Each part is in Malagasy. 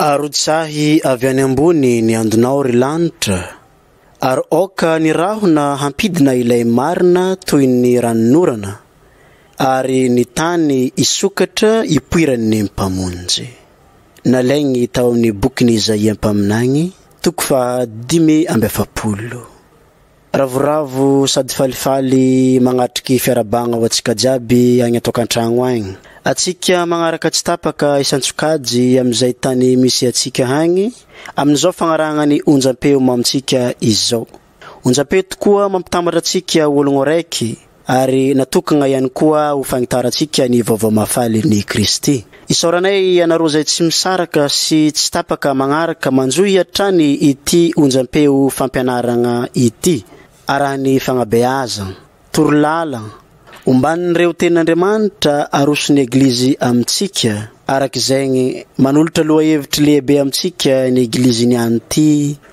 Arotsahy avy any ambony ny andonao ry lanitra ary aoka ny rahona hampidina ilay marina toy ny ranonorana ary ny tany hisokatra hipoiran'ny Mpamonjy. Nalainy tao amin'ny bokin'i Izaia Mpaminany, toko faha dimy amby efapolo. Ravoravo sady falifaly magnatriky fiarabagna ho atsika jiaby agny atokantragno agny. Atsika magnaraka tsy tapaka isan-tsokajy amizay tany misy atsika agny aminizao fagnarahagna ny onjampeo mamintsika izao. Onjampeo tokoa mampitambatra atsika ologno araiky ary natokagna ihany koa ho fagnitarantsika ny vaovao mahafaly ny Kristy. Isaoranay ianareo izay tsy misaraka sy tsy tapaka magnaraka manjohy hatrany ity onjam-peo fampianaragna ity, arahan'ny fagnabeazagna, toro-lala, omban'ireo Tenin'Andriamanitra aroson'ny Eglizy amintsika, araka izegny, manolotra lohahevitry lehibe amintsika ny Eglizy niany ty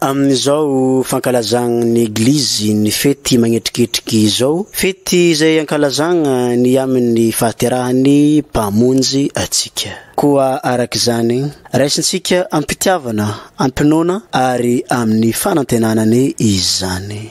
Amin'izao fankalazagna ny Eglizy ny fety magnetriketriky izao, fety izay ankalazagna ny amin'ny fahaterahan'ny Mpamonjy antsika. Koa araka izany, raisintsika am-pitiavana, am-pinoana ary amin'ny fanantenana anie izany.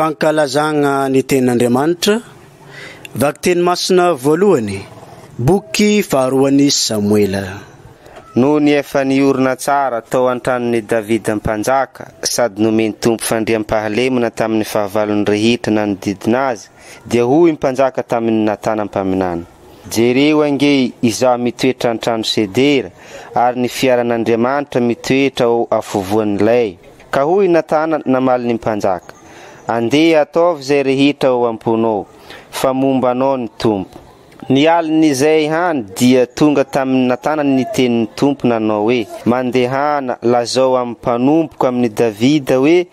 Fankalazagna ny tenin'Andriamanitra, Vakiteny masina voalohany, boky faharoan'i Samoela. Nony efa niorina tsara tao an-tranon' i Davida mpanjaka sady nomen' Tompo fandriampahalemana tamin' ny fahavalon' ny rehetra nanodidina azy, dia hoy ny mpanjaka tamin' i Natana mpaminany, Jereo ange, izaho mitoetra an-trano sedera, ary ny fiaran' Andriamanitra mitoetra ao afovoan' ny lay. Ka hoy i Natana namaly ny mpanjaka, Andeha ataovy izay rehetra ao am-ponao, fa momba anao ny Tompo. Ny alin'izay hany dia tonga tamin'i Natana ny tenin'ny Tompo nanao hoe, Mandehana, lazao amin'ny mpanompoko amin'i Davida hoe,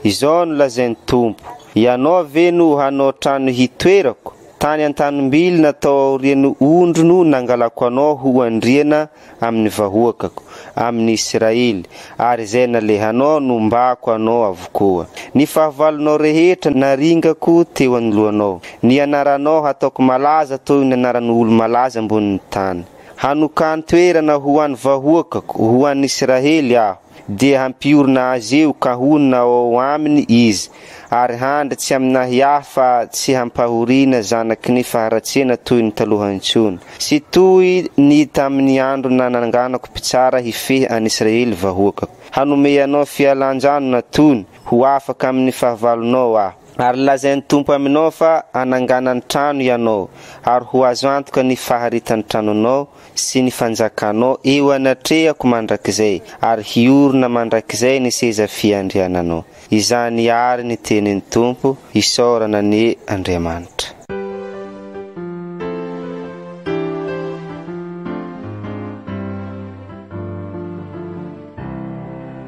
Izao no lazain'ny Tompo, Hianao ve no hanao trano hitoerako? Tany an-tanim-bilona tao aorian'ny ondry no nangalako anao ho andriana amin'ny vahoakako, amin'ny Israely, ary izay nalehanao nombako anao avokoa. Ny fahavalonao rehetra naringako teo anoloanao. Ny anaranao hataoko malaza toy ny anaran'olo-malaza ambonin'ny tany. Hanokan-toerana ho an'ny vahoakako, ho an'ny Israely, aho. dia hampiorina azy eo ka honina ao Aminy izy, ary handry tsy amina hiahy fa tsy hampahoriana zanaky ny faharatsiana toy ny taloha intsony, sy toy ny tamin'ny andro nananganako mpitsara hifehy an'i Israely vahoakako. Hanome anao fialan-janona tony ho afaka amin'ny fahavalonao Aho. Ary lazain'ny Tompo aminao fa hanangana ny trano ianao, ary ho azo antoka ny faharitan'ny tranonao, sy ny fanjakanao eo anatrehako mandrakizay, ary hiorina mandrakizay ny seza fiandriananao. Izany àry ny tenin'ny Tompo, isaorana anie Andriamanitra.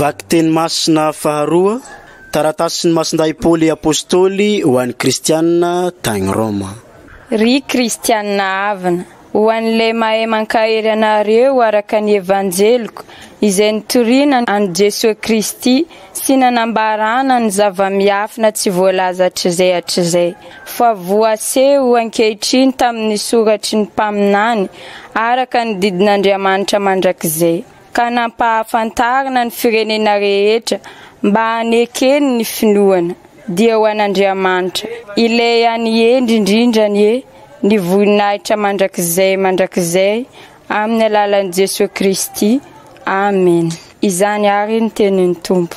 Vakiteny masina faharoa, Taratasin'ny Masindahy Paoly Apôstôly ho an'ny Kristianina tagny Rôma. Ry Kristianina havana, Ho an'ilay mahay mankahery anareo araka ny Evanjeliko, izay nitoriana an'i Jesoa Kristy sy nanambarana ny zava-miafina tsy voalaza hatrizay hatrizay, fa voaseho ankehitriny tamin'ny soratry ny mpaminany araka ny didin'Andriamanitra mandrakizay. ka nampahafantarina ny firenena rehetra mba hanekeny ny finoana, dia ho an'Andriamanitra, Ilay any hendry indrindra anie, ny voninahitra mandrakizay mandrakizay amin'ny alalan'i Jesoa Kristy. Amena. Izany àry ny tenin'ny Tompo.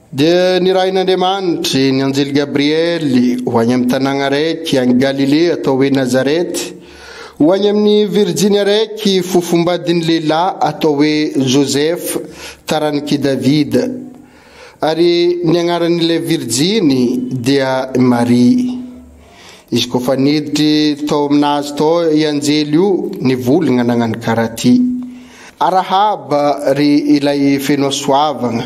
Dia nirahin'Andriamanitra ny anjely Gabriely ho any amin'ny tanàgna araiky any Galilea atao hoe Nazareta, ho any amin'ny virjiny araiky fofombadin'ny lehilahy atao hoe Joseph, taranik'i Davida. Ary ny agnaran'ilay virjiny dia Maria. Izy koa fa niditry tao aminazy tao i anjely io, nivoligna nagnano karaha ty, Arahaba ry ilay feno hasoavagna,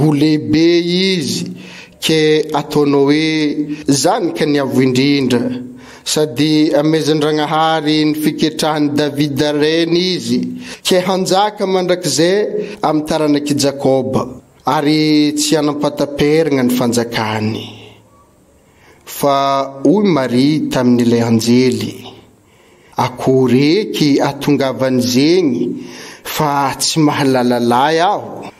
Ho lehibe izy ke ataonao hoe zany ka ny avo indrindra sady amezandragnahary ny fiketrahany Davida reny izy ke hanjaka mandrakize amy taranaki Jakoba ary tsy hanam-pataperagna ny fanjakany. Fa hoy Maria taminy le anjely. Akory eky atongavan'izegny fa tsy mahalala lahy aho.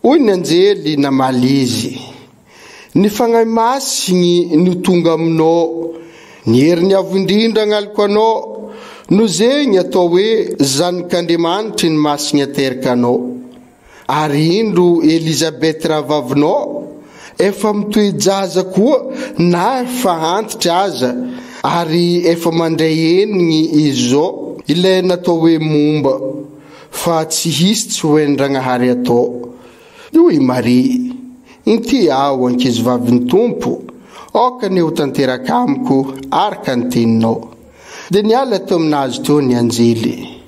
Hoy ny anjely namaly izy, Ny Fagnahy Masigny no tonga aminao, ny herin'ny Avo Indrindra agnaloko anao, noho zegny atao hoe Zanak'Andriamanitry ny Masigny ateraka anao. Ary indro Elizabeth rahavavinao efa mitohy jaza koa na efa antitra aza ary efa mandray henigny izy zao. Ilay natao hoe momba fa tsy hisy tsy ho hain-dragnahary atao. Io i Maria. Inty aho ankizivavin'ny Tompo, aoka anie ho tanteraka amiko araka ny teninao. Dia niala teo aminazy teo ny anjely.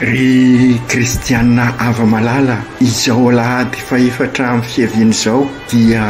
Ry kristiana hava-malala, izao alahady fahefatra amin'ny fiaviany izao dia.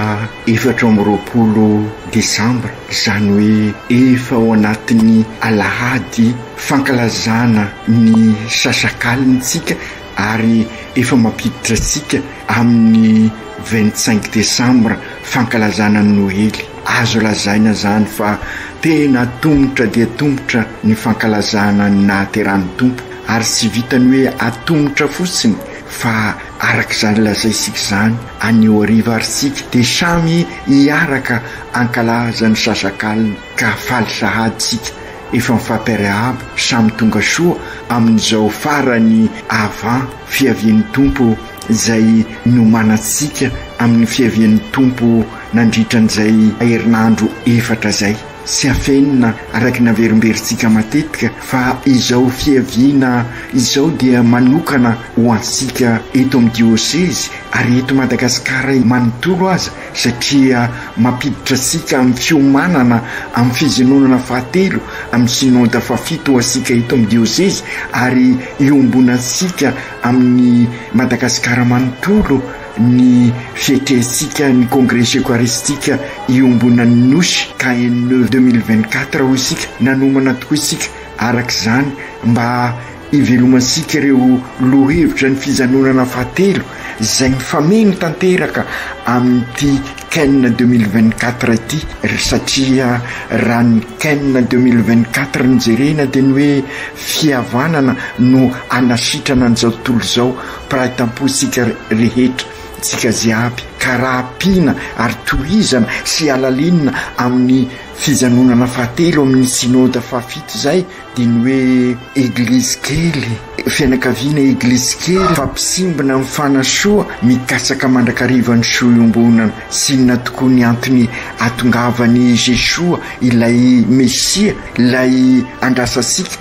efatra amby roapolo desambra, izany hoe efa ao anatin'ny alahady fankalazana ny sasakalintsika ary efa mampiditra antsika amin'ny vingt cinq desambra fankalazana ny noely. Azo lazaina izany fa tena tomotra dia tomotra ny fankalazana ny nahaterahan'ny Tompo ary tsy vitan'ny hoe atomotra fotsiny fa Araka izany lazaintsika izany anio hariva ary isika dia samy hiaraka hankalaza ny sasakalina ka faly sahady isika efa mifampiarahaba samy tonga soa amin'izao farany avant fiavian'ny Tompo izay nomanantsika amin'ny fiavian'ny Tompo nandritran'izay herinandro efatra izay. Tsy afenina araka ny averimberintsika matetika fa izao fiaviana izao dia manokana ho antsika eto amin'ny diosezy ary eto Madagasikara manontolo aza satria mampiditra antsika amin'ny fiomanana amin'ny fizenonana fahatelo amin'ny Synode fahafito antsika eto amin'ny diosezy ary iombonantsika amin'ny Madagasikara manontolo Ny fiekentsika ny Kongresy Eokaristika Iombonan'ny Nosy, KENE, deux mille vingt quatre hoy isika, nanomana tokoa isika araka izany mba hivelomantsika ireo lohahevitra ny fijanonana fahatelo izay mifameno tanteraka amin'ity KENE deux mille vingt quatre ity satria raha ny KENE deux mille vingt quatre no jerena dia ny hoe fihavanana no hanasitrana an'izao tontolo izao Mpiray tampo isika rehetra, isika jiaby, ka raha ampiana ary tohizana sy halalinina amin'ny fijanonana fahatelo amin'ny Synode fahafito izay dia ny hoe Eglizy kely, fianakaviana Eglizy kely fa mpisimbina amin'ny fanasoa, mikatsaka mandrakariva ny soa iombonana sy inona tokoa ny antony atongavan'i Jesoa ilay Mesia, ilay andrasantsika.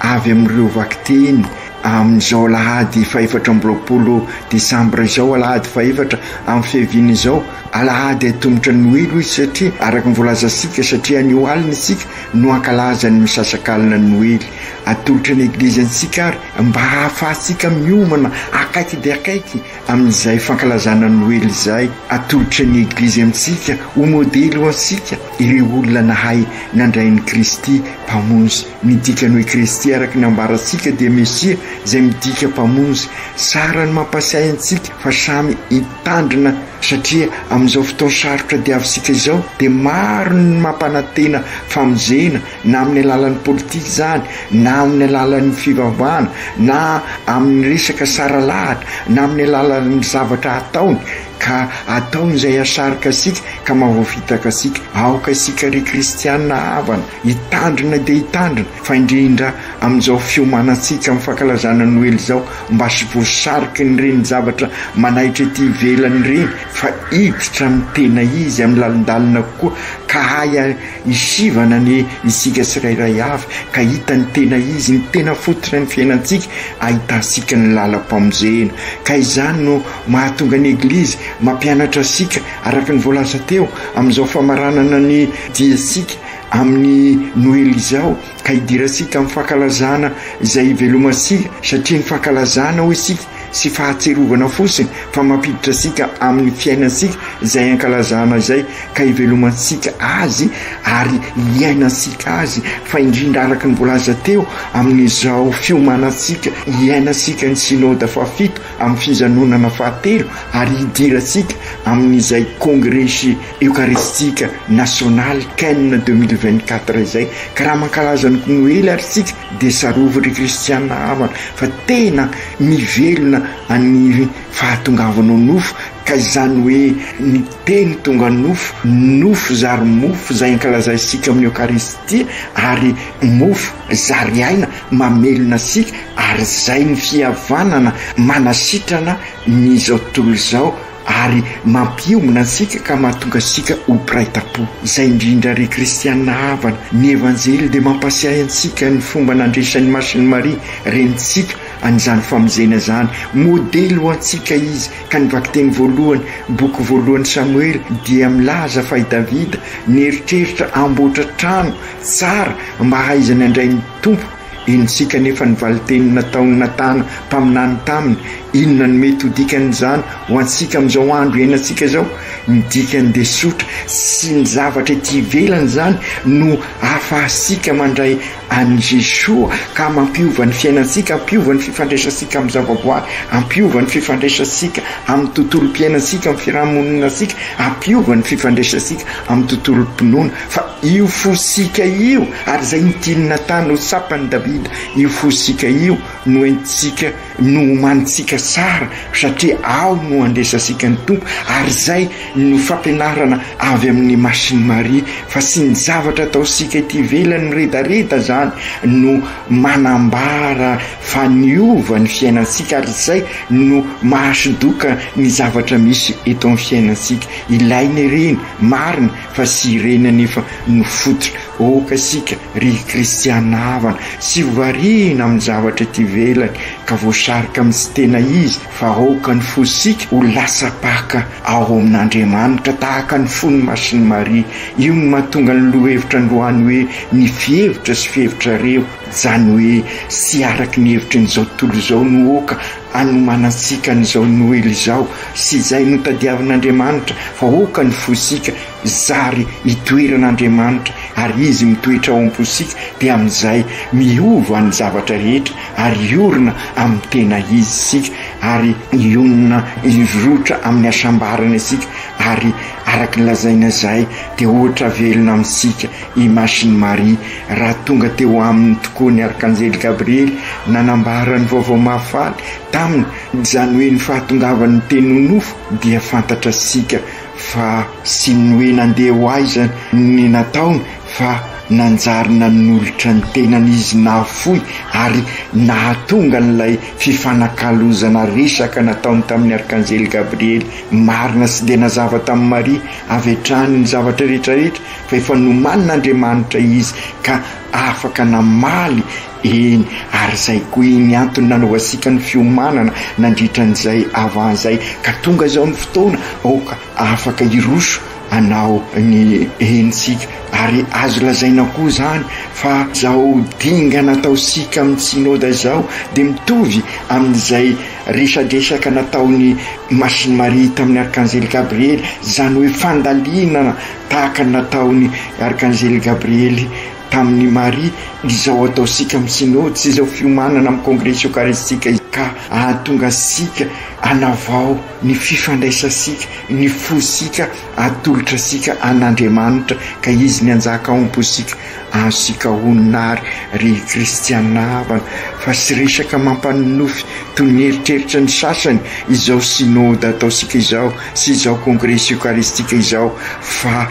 avy amin'ireo vakiteny amin'izao alahady fahefatra amby roapolo desambra izao, alahady fahefatra amin'ny fiaviana izao, alahady haitomotra ny noely hoy izy satria araka ny voalazantsika satria anio alina isika no hankalaza ny misasakalina ny noely, atolotra ny eglizy antsika ary mba hahafahantsika miomana akaiky dia akaiky amin'izay fankalazana ny noely izay, atolotra ny eglizy amintsika ho modely ho antsika ireo olona nahay nandray an'i Kristy Mpamonjy. Ny dikany hoe Kristy araka ny ambarantsika dia Mesia izay midika Mpamonjy. Tsara ny mampahatsiahy antsika fa samy hitandrina satria amin'izao fotoana sarotra diavintsika izao dia maro ny mampanantena famonjena na amin'ny alalan'ny politika izany na amin'ny alalan'ny fivavahana na amin'ny resaka saralahatra na amin'ny alalan'ny zavatra ataony Ka ataony izay hahasarika antsika ka mahavoafitaka antsika. Aoka isika ry kristiana havana hitandrina dia hitandrina, fa indrindra amin'izao fiomanantsika amin'ny fankalazana Noely izao, mba tsy voasarikin'ireny zavatra manaitra ety ivelany ireny, fa hiditra amin'ny tena izy, amin'ny lalindalina kokoa, ka hahay hisivana ny isika tsirairay avy, ka hita ny tena izy, ny tena fototry ny fiainantsika, ahitantsika ny lalam-pamonjena. Ka izany no. Mahatonga ny Eglizy mampianatra antsika araka ny voalaza teo amin'izao famaranana ny diantsika amin'ny Noely izao, ka hidirantsika amin'ny fankalazana izay hivelomantsika, satria ny fankalazana, hoy isika, tsy fahatsiarovana fotsiny fa mampiditra antsika amin'ny fiainantsika izay ankalazana izay, ka hivelomantsika azy ary hiainantsika azy, fa indrindra araka ny voalaza teo amin'izao fiomanantsika hiainantsika ny Synoda fahafito. amin'ny fijanonana fahatelo ary hidirantsika amin'izay kongresy eokaristika nasionaly Ken deux mille vingt quatre izay ka raha mankalaza ny noely ary isika dia tsarovy ry kristiana havana fa tena mivelona any fahatongavanao nofo ka izany hoe ny teny tonga nofo nofo zary mofo izay ankalazaisika amin'ny eokaristia ary mofo zary aina mamelona sika Ary izay ny fihavanana manasitrana ny izao tontolo izao ary mampiombona antsika ka mahatonga antsika ho mpiray tam-po. Izay indrindra ry kristianina havana, ny Evanjely dia mampasiahy antsika ny fomba nandresan'i Masin'i Maria, renintsika, an'izany famonjena izany. Modely ho antsika izy, ka ny vakiteny voalohany, boky voalohan'i Samoela, dia milaza fa i Davida nieritreritra hamboatra trano tsara mba hahaizany handray ny Tompo, Henontsika anefa ny valin-teny nataon'i Natana mpaminany taminy. Inona no mety ho dikan'izany ho antsika amin'izao andro iainantsika izao? Ny dikany dia tsotra, Tsy ny zavatra ety ivelany izany no ahafahantsika mandray an'i Jesoa ka mampiova ny fiainantsika, hampiova ny fifandraisantsika amin'ny zavaboary, hampiova ny fifandraisantsika amin'ny tontolom-piainantsika, amin'ny fiarahamoninantsika, hampiova ny fifandraisantsika amin'ny tontolom-pinoana. Fa io fo sika io, ary izay no tian'i Natana ho tsapan'i Davida, io fo sika io no entintsika, no omanintsika sara, satria ao no andraisantsika ny Tompo, ary izay no fampianarana avy amin'ny Masin'i Maria, fa tsy ny zavatra ataontsika ety ivelany miredareda izany no manambara fa niova ny fiainantsika, ary izay no mahasodoka ny zavatra misy eto amin'ny fiainantsika. Ilaina ireny, marina, Fa tsy ireny anefa no fototra ôkasika ry kristiana havana, tsy variana amin'ny zavatra ety ivelany ka voasarika amin'ny tsy tena izy fa aoka ny fosika ho lasa paka ao amin'Andriamanitra tahaka ny fon'i Masin'i Maria, io no mahatonga ny lohevitra androany hoe ny fihevitra sy fihevitrareo, zany hoe tsy araky ny hevitrin'izao tontolo izao no ôka Hanomanantsika an'izao Noely izao sy izay notadiavin'Andriamanitra fa hoka ny fosika zary itoeran'Andriamanitra ary Izy mitoetra ao am-posika dia amin'izay miova ny zavatra rehetra ary hiorina amin'ny tena Izy isika ary hionona hirotra amin'ny hasambarana isika ary araka ny lazaina izay dia ohatra velona amintsika I Masin'i Maria, raha tonga teo aminy tokoa ny Arkanjely Gabriely nanambara ny vaovao mahafaly taminy, izany hoe ny fahatongavan'ny Teny ho nofo, dia fantatra isika fa tsy ny hoe nandeha ho aiza no ny nataony fa nanjary nanolotra ny tenany izy nahafoy ary nahatonga an'ilay fifanakalozana resaka nataony tamin'ny Arkanjely Gabriely marina sy dia nazava tamin'i Maria avy hatrany ny zavatra rehetra rehetra fa efa nomanin' Andriamanitra izy ka afaka namaly eny, ary izay koa iny antony nanaovasika ny fiomanana nandritra an'izay avant izay, ka tonga izao ny fotoana aoka afaka hiroso hanao ny eny isika, ary azo lazaina koa izany fa izao dingana ataosika amin'ny Synoda izao dia mitovy amin'izay resadresaka nataon'i Masiny Maria tamin'ny Arkanzely Gabriely, izany hoe fandalinana Tahaka ny nataon'i Arkanzely Gabriely tamin'i Maria, izao ataontsika amin'ny Synody sy izao fiomanana amin'ny Kongresy Eokaristika izao ka hahatonga antsika hanavao ny fifandraisantsika, ny fontsika atolotra antsika an'Andriamanitra ka Izy ny hanjaka ao am-pontsika. Azontsika honina àry, ry kristiana havana, fa tsy resaka mampanonofy toy ny eritreritra ny sasany izao Synody ataontsika izao, sy izao kongresy eokaristika izao fa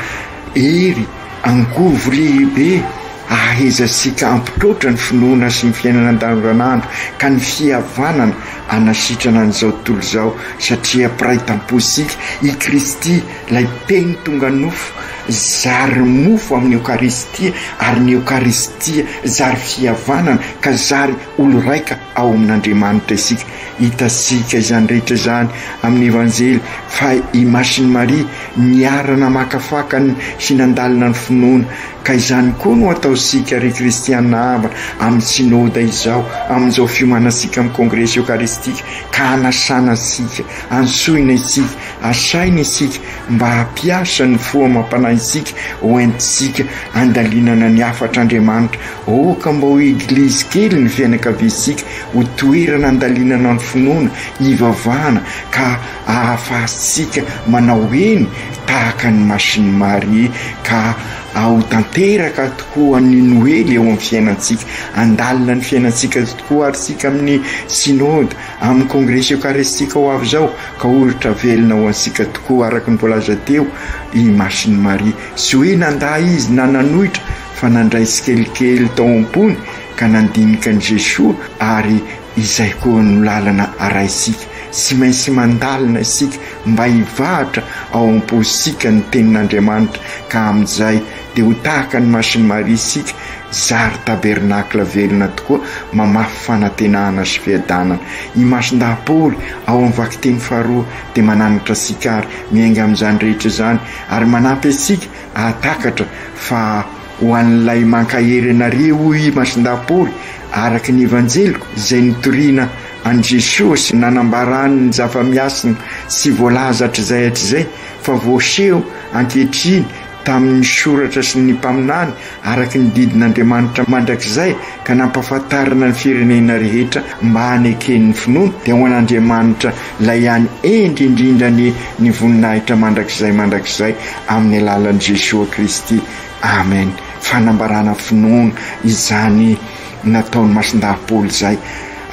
hery angovo lehibe ahahezantsika hampitroatra ny finoana sy ny fiainana andavanandro ka ny fihavanana hanasitrana an'izao tontolo izao satria mpiray tampo isika i Kristy ilay teny tonga nofo zary mofo amin'ny eokaristia ary ny eokaristia zary fihavanana ka zary olo raika ao amin'Andriamanitra isika. Hitantsika izany rehetra izany amin'ny Evanjely fa i Masin'i Maria niara-namakafaka sy nandalina ny finoana. Ka izany koa no ataontsika ry kristiana havana amin'ny Synoda izao, amin'izao fiomanantsika amin'ny Kongresy Eokaristika ka anasana antsika, antsoina isika, asaina isika mba hampiasa ny fo amam-panahintsika hoentintsika handalinana ny hafatr'Andriamanitra Aoka mba ho eglizy kely ny fianakaviantsika, ho toerana andalinana ny finoana, hivavahana, ka ahafahantsika manao eny tahaka an'i Masin'i Maria, ka aho tanteraka tokoa ny Noely eo amin'ny fiainantsika. Handalina ny fiainantsika tokoa àry isika amin'ny Synode, amin'ny Kongresy Eokaristika ho avy izao, ka ho ohatra velona ho antsika tokoa, araka ny voalaza teo, i Masin'i Maria. Tsy hoe nandà izy na nanohitra. fa nandray tsikelikely tao am-pony ka nandinika an'i Jesoa ary izay koa no lalana arahintsika. Tsy maintsy mandalina isika mba hivahatra ao am-pontsika ny Tenin'Andriamanitra ka amin'izay dia ho tahaka ny Masin'i Maria isika, zary tabernakla velona tokoa mamafy fanantenana sy fiadanana. I Masindahy Paoly ao amin'ny vakiteny faharoa dia mananatra antsika ary miainga amin'izany rehetra izany ary manampy antsika Hahatakatra fa ho an'ilay mankahery anareo, hoy i Masindahy Paoly, araka ny Evanjeliko, izay nitoriana an'i Jesoa sy nanambarany ny zava-miasina tsy voalaza hatrizay hatrizay, fa voaseho ankehitriny tamin'ny Soratra sy ny Mpaminany, araka ny didin'Andriamanitra mandrakizay, ka nampahafantarina ny firenena rehetra mba hanekeny ny finoany dia ho an'Andriamanitra ilay ihany hendry indrindra ny ny voninahitra mandrakizay mandrakizay amin'ny alalan'i Jesoa Kristy Amen fanambarana finoana izany nataon'i Masindahy Paoly izay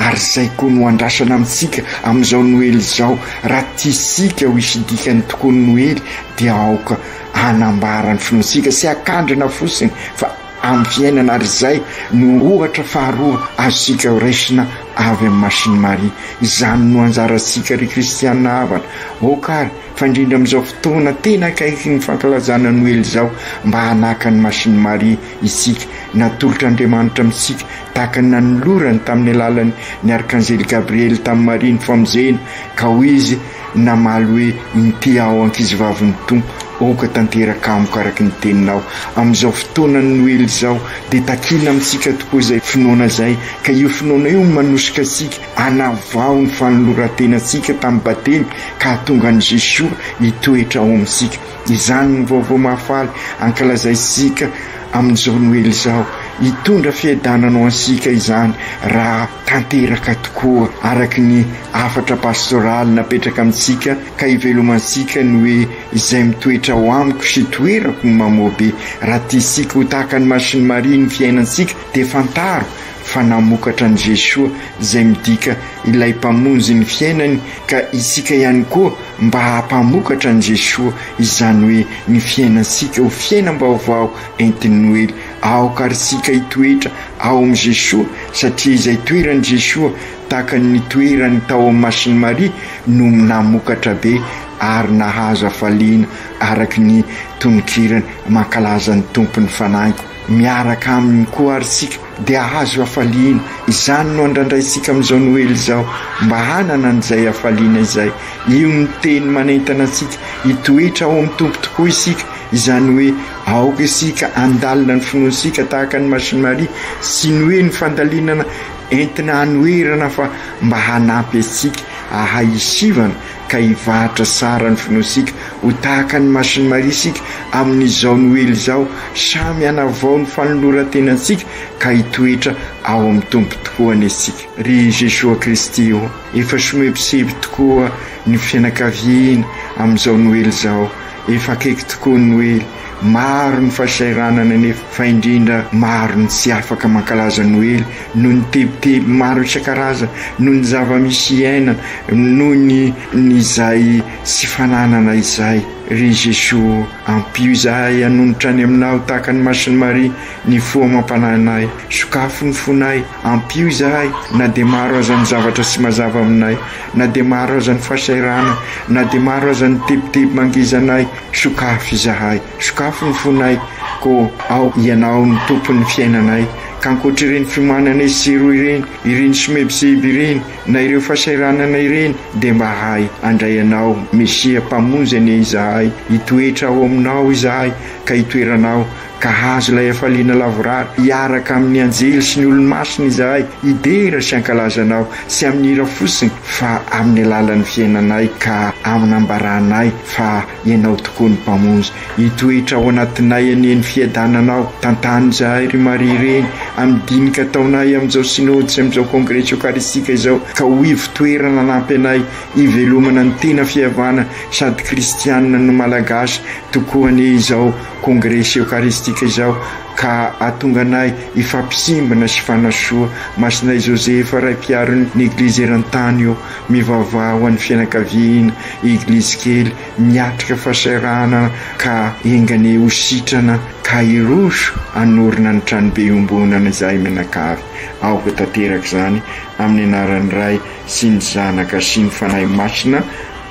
ary izay koa no andrasana amintsika amin'izao noely izao raha tiasika ho hisy dikany tokoa ny noely dia aoka hanambara ny finoantsika sy hakandrina fosiny fa amin'ny fiainana ary izay no ohatra faharoa azontsika horaisina avy amin'i Machine Marie. Izany no anjarantsika ry kristiana havana aoka ary fa indrindra amin'izao fotoana tena akaiky ny fankalazana Noely izao mba hanaka an'i Machine Marie isika natolotr'Andriamanitra amintsika tahaka ny nanolorany tamin'ny alalan'ny ny arkanzely Gabriely tamin'i Maria ny famozehina ka hoy izy namaly hoe, Inty aho, ankizivavin'ny Tompo, aoka tanteraka amiko araka ny teninao. Amin'izao fotoanan'ny Noely izao, dia takina amintsika tokoa izay finoana izay, ka io finoana io no manosika antsika hanavao ny fanoloran-tenantsika tamin'ny Batemy ka hahatonga an'i Jesoa hitoetra ao amintsika. Izany no vaovao mahafaly ankalazaintsika amin'izao Noely izao. Hitondra fiadanana ho antsika izany raha. tanteraka tokoa araka ny hafatra pastoraly napetraka amintsika ka ivelomantsika ny hoe izay mitoetra ao amiko sy toerako no mamoabe, raha tiantsika ho tahaka ny masin'i Maria ny fiainantsika dia fantaro fa namokatra an'i Jesoa izay midika ilay mpamonjy ny fiainany ka isika ihany koa mba hampamokatra an'i Jesoa izany hoe ny fiainantsika ho fiainam-baovao entin'ny noely Aoka ary tsika hitoetra ao amin'i Jesoa satria izay toeran'i Jesoa tahaka ny toerany tao amin'ny Masin'i Maria no namokatra be ary nahazo hafaliana araka ny tononkirany mankalaza ny Tompo ny fanahiko miaraka aminy koa ary tsika dia ahazo hafaliana izany no andrandraintsika amin'izao Noely izao mba hanana an'izay hafaliana izay io ny teny manentana antsika hitoetra ao amin'ny Tompo tokoa isika izany hoe Aoka isika handalina ny finoantsika tahaka an'i Masin'i Maria, tsy ny hoe ny fandalinana entina hanoherana fa mba hanampy antsika hahay hisivana ka hivahatra tsara ny finoantsika. Ho tahaka an'i Masin'i Maria isika amin'izao Noely izao, samy hanavao ny fanoloran-tenantsika ka hitoetra ao amin'ny Tompo tokoa anie isika. Ry Jesoa Kristy ô, efa somebiseby tokoa ny fianakaviana amin'izao Noely izao, Efa akaiky tokoa ny Noely. Maro ny fahasahiranana nefa fa indrindra maro ny tsy afaka mankalaza Noely noho ny tebiteby maro isan-karazany, noho ny zava-misy iainana, noho ny ny izay tsy fananana izay. Ry Jesoa ô, ampio izahay hanonitra any Aminao tahaka ny Masin'i Maria, ny fo amam-panahinay. Sokafo ny fonay. Ampio izahay, na dia maro aza ny zavatra tsy mazava aminay, na dia maro aza ny fahasahiranana, na dia maro aza ny tebiteby mangizanay, sokafy izahay, sokafy ny fonay, koa ao Ianao no Tompon'ny fiainanay. Ka ankoatr'ireny fiomanana etsy sy eroa ireny, ireny somebiseby ireny, na ireo fahasahiranana ireny, dia mba ahay handray Anao, Mesia, Mpamonjy anie izahay, hitoetra ao Aminao izahay, ka hitoeranao, Ka hahazo ilay hafaliana lavorary hiaraka amin' ny anjely sy ny olomasina izahay, hidera sy hankalaza Anao, tsy amin' ny hira fotsiny, fa amin' ny alalan' ny fiainanay ka amin' ambaranay fa Ianao tokoa ny Mpamonjy. Hitoetra ao anatinay anie ny fiadananao. Tantano izahay, ry Maria Reny, amin' ny dinika ataonay amin' izao Synôdy sy amin' izao Kôngresa Eokaristika izao, ka ho ivo-toerana hanampy anay hivelomana ny tena fihavana sady Kristiana no Malagasy tokoa anie izao. Kongresy Eokaristika izao ka hahatonga anay hifampisimbina sy hifanasoa. Masinay Joseph, Ray Mpiaro ny Eglizy eran-tany ô, mivavaha ho an'ny fianakaviana, Eglizy kely miatrika fahasahiranana ka enganie ho sitrana ka hiroso hanorina ny Tranobe Iombonana izahay mianakavy. Aoka tanteraka izany amin'ny anaran'ny Ray sy ny Zanaka sy ny Fanahy Masina.